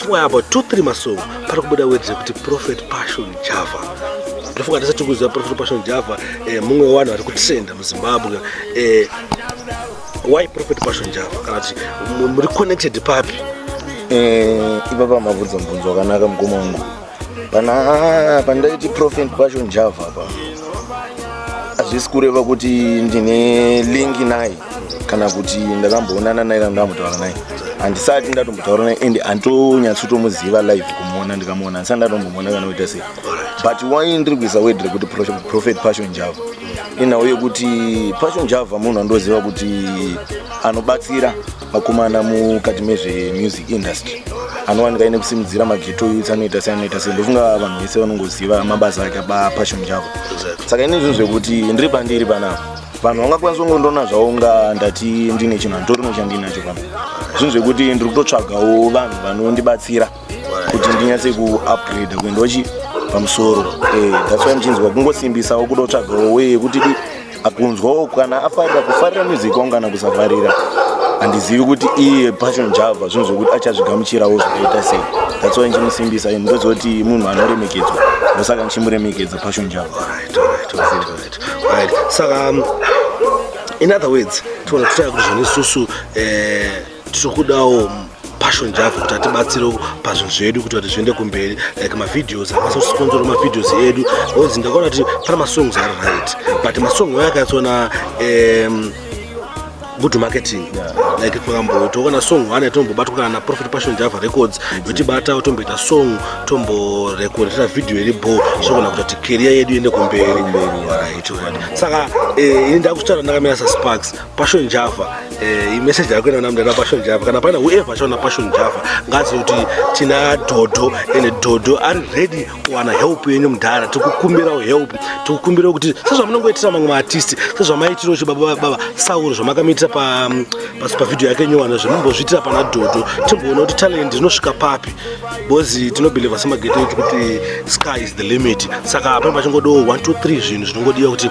Somewhere about 2-3 masong pari kubuda words yekuti Prophet Passion Java ndofunga tese tiri kuziva Prophet Passion Java eh, mumwe wevanhu vari kutrenda muZimbabwe eh, why Prophet Passion Java kana kuti muri connected papi? Eh, ipapa mabvunzo mubvunzo wakanaka mukoma wangu pana pandaiti prophet passion java apa hazvisi kureva kuti ndine link naye kana kuti ndakamboonana naye kana ndambotaura naye handisati ndatombotaura naye and handitonyatsotomuziva live kumuona ndikamuona handisati ndatombomuona kana kuita sei but why ndiri kuisa word rekuti prophet passion java inhau yekuti passion java munhu andoziva kuti anobatsira vakomana mukati mezvemusic industry anowanika ine kusimudzira mageto youth anoita sei anoita sei ndofunga vanhu vese vanongoziva mabasa ake apassion chavo saka ine zvinhu zvekuti ndiri pandiri panapa vanhu vangakwanisa kungondona zvavo unga ndati ndine chinhu handitorino chandinacho pano zvinhu zvekuti ndiri kutotsvagawo vanhu vanondibatsira kuti ndinyatse kuupgrade kuendawo chi pamusoro eh, that's why ndichinzwa kungosimbisawo kuda kutsvagawo weye kuti di akunzwawo kana afarira kufarira music wangu kana kusafarira handizivi kuti iye passion java zvinhu zvekuti achazvigamuchirawo zvakaita sei that's why ndichimusimbisa ndoziva kuti munhu anoremekedzwa ndosaka ndichimuremekedza passion java right, right, right, right, right. saka um, in other words tiona kutaya kuti zvanesusu eh, tikudawo passion java kuti atibatsire pazvinhu zvedu kuti kuti zviende kumberi like mavideos akasa kusiponzora mavideos edu onzi ndakaona kuti pana masongs ari right but masong ayo akatsona um, good marketing like pakambo toona song one tombobatwa kana profit passion java records yotibata tomboita song tomborekoreta video iri bo zvogona kuita kuti career yedu iende kumberi saka eh, ini ndakuchitaura ndakamira sasparks passion java eh, imeseji yako ina namdana passion java kana paina whoever achaona passion java ngazi kuti tina dhodho ende dhodho ari ready kuwana help yenyu mudhara tikukumbirawo help tikukumbirawo kuti sezvamunongoitira mamwe maartisti sezvamaiitirawo chibaba baba sauro zvamakamiitira pavideo yake nyowano zvimumbozviitira pana dhodho timboona kuti talent rinosvika papi bcoz tinobeliva semagete edu kuti sky is the limit saka pane pachingodowo 123 zvinhu zvinongodiwa kuti